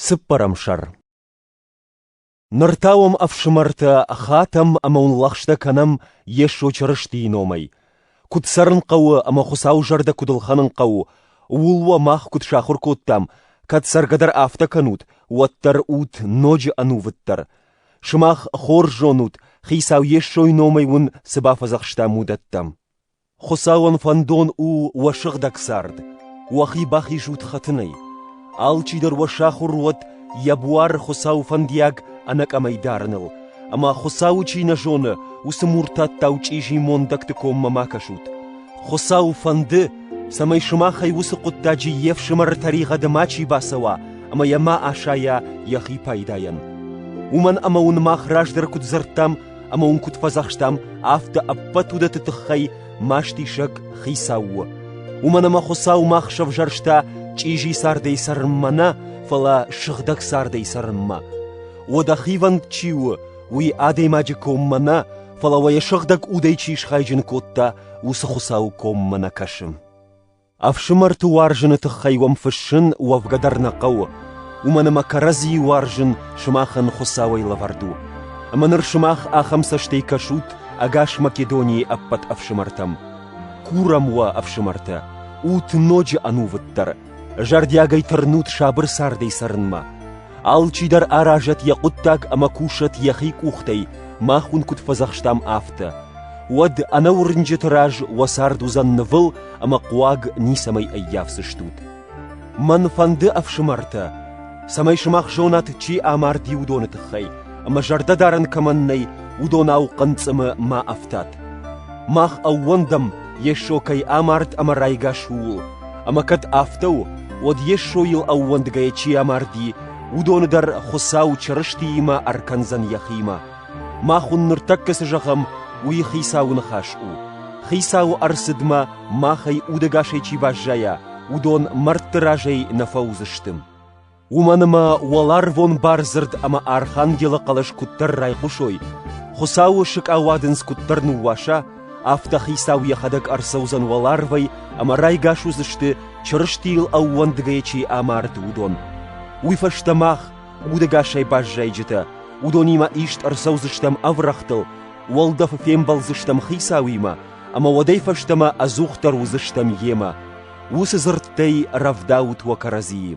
Цыппӕрӕм сӕр Ныр та уӕм, ӕфсымӕртӕ, хатӕм ӕмӕ уын лӕгъстӕ кӕнӕм Йесо Чырыстийы номӕй. Куыд цӕрын хъӕуы ӕмӕ Хуыцауы зӕрдӕ куыд ӕлхӕнын хъӕуы, ууыл уӕ мах куыд сахуыр кодтам, кӕд цӕргӕдӕр афтӕ кӕнут, уӕддӕр ут ноджы ӕнувыддӕр. Сымах хорз зонут, Хицау Йесойы номӕй уын цы бафӕдзӕхстам, уыдӕттӕ. Хуыцауӕн фӕндон у уӕ сыгъдӕг цард, уӕхи бахизут хӕтынӕй. Алчидӕр уӕ сахуыр уӕд йӕ буары Хуыцауы фӕндиаг ӕнӕкъӕмӕй дарыныл, ӕмӕ Хуыцауы чи нӕ зоны, уыцы муртаттау чъизи мондӕгты коммӕ ма кӕсут. Хуыцау фӕнды, цӕмӕй сымахӕй уыцы хъуыддаджы йе фсымӕры тӕригъӕды мачи бацӕуа ӕмӕ йӕ ма асайа йӕхи пайдайӕн. Уымӕн ӕмӕ уын мах раздӕр куыд дзырдтам, ӕмӕ уын куыд фӕдзӕхстам, афтӕ ӕппӕт уыдӕтты тыххӕй мастисӕг Хицау у. Уымӕн ӕмӕ Хуыцау мах сӕвзӕрста чъизи цардӕй цӕрынмӕ нӕ, фӕлӕ сыгъдӕг цардӕй цӕрынмӕ. Уӕдӕ хивӕнд чи у, уый адӕймаджы коммӕ нӕ, фӕлӕ уӕ йӕ сыгъдӕг удӕй чи схайджын кодта, уыцы Хуыцауы коммӕ нӕ кӕсы. Ӕфсымӕрты уарзыны тыххӕй уӕм фыссын уӕвгӕ дӕр нӕ хъӕуы, уымӕн ӕмӕ кӕрӕдзийы уарзын сымахӕн Хуыцауӕй лӕвӕрд у. Ӕмӕ ныр сымах ахӕм цӕстӕй кӕсут ӕгас Македонийы ӕппӕт ӕфсымӕртӕм. Курӕм уӕ, ӕфсымӕртӕ, ут ноджы ӕнувыддӕр, зӕрдиагӕй тырнут сабыр цардӕй цӕрынмӕ. Алчидӕр аразӕт йӕ хъуыддаг ӕмӕ кусӕт йӕхи къухтӕй, мах уын куыд фӕдзӕхстам, афтӕ. Уӕд ӕнӕуырнджыты раз уӕ цард уыдзӕн нывыл ӕмӕ хъуаг ницӕмӕй ӕййафдзыстут. Мӕн фӕнды, ӕфсымӕртӕ, цӕмӕй сымах зонат, чи амарди, уыдоны тыххӕй, ӕмӕ зӕрдӕдарӕн кӕмӕн нӕй, уыдонау хъынцъымы ма ӕфтат. Мах ӕууӕндӕм Йесо кӕй амард ӕмӕ райгас, ууыл. Ӕмӕ кӕд афтӕ у, уӕд Йесойыл ӕууӕндгӕйӕ чи амарди, уыдоны дӕр Хуыцау Чырыстиимӕ ӕркӕндзӕн йӕхимӕ. Мах уын ныртӕккӕ цы зӕгъӕм, уый Хицауы ныхас у. Хицау ӕрцыдмӕ махӕй удӕгасӕй чи баззайа, уыдон мӕрдты разӕй нӕ фӕуыдзысты. уымӕн ӕмӕ уӕларвон бардзырд ӕмӕ архангелы хъӕлӕс куыддӕр райхъусой, Хуыцауы сыкъауадындз куыддӕр ныууаса, афтӕ Хицау йӕхӕдӕг ӕрцӕудзӕн уӕларвӕй ӕмӕ райгас уыдзысты, Чырыстийыл ӕууӕндгӕйӕ чи амард, уыдон. Уый фӕстӕ мах, удӕгасӕй баззайджытӕ, уыдонимӕ ист ӕрцӕудзыстӕм ӕврӕгътыл, уӕлдӕфы фембӕлдзыстӕм Хицауимӕ, ӕмӕ уӕдӕй фӕстӕмӕ ӕдзухдӕр уыдзыстӕм Йемӕ. Уыцы дзырдтӕй рӕвдауут уӕ кӕрӕдзийы.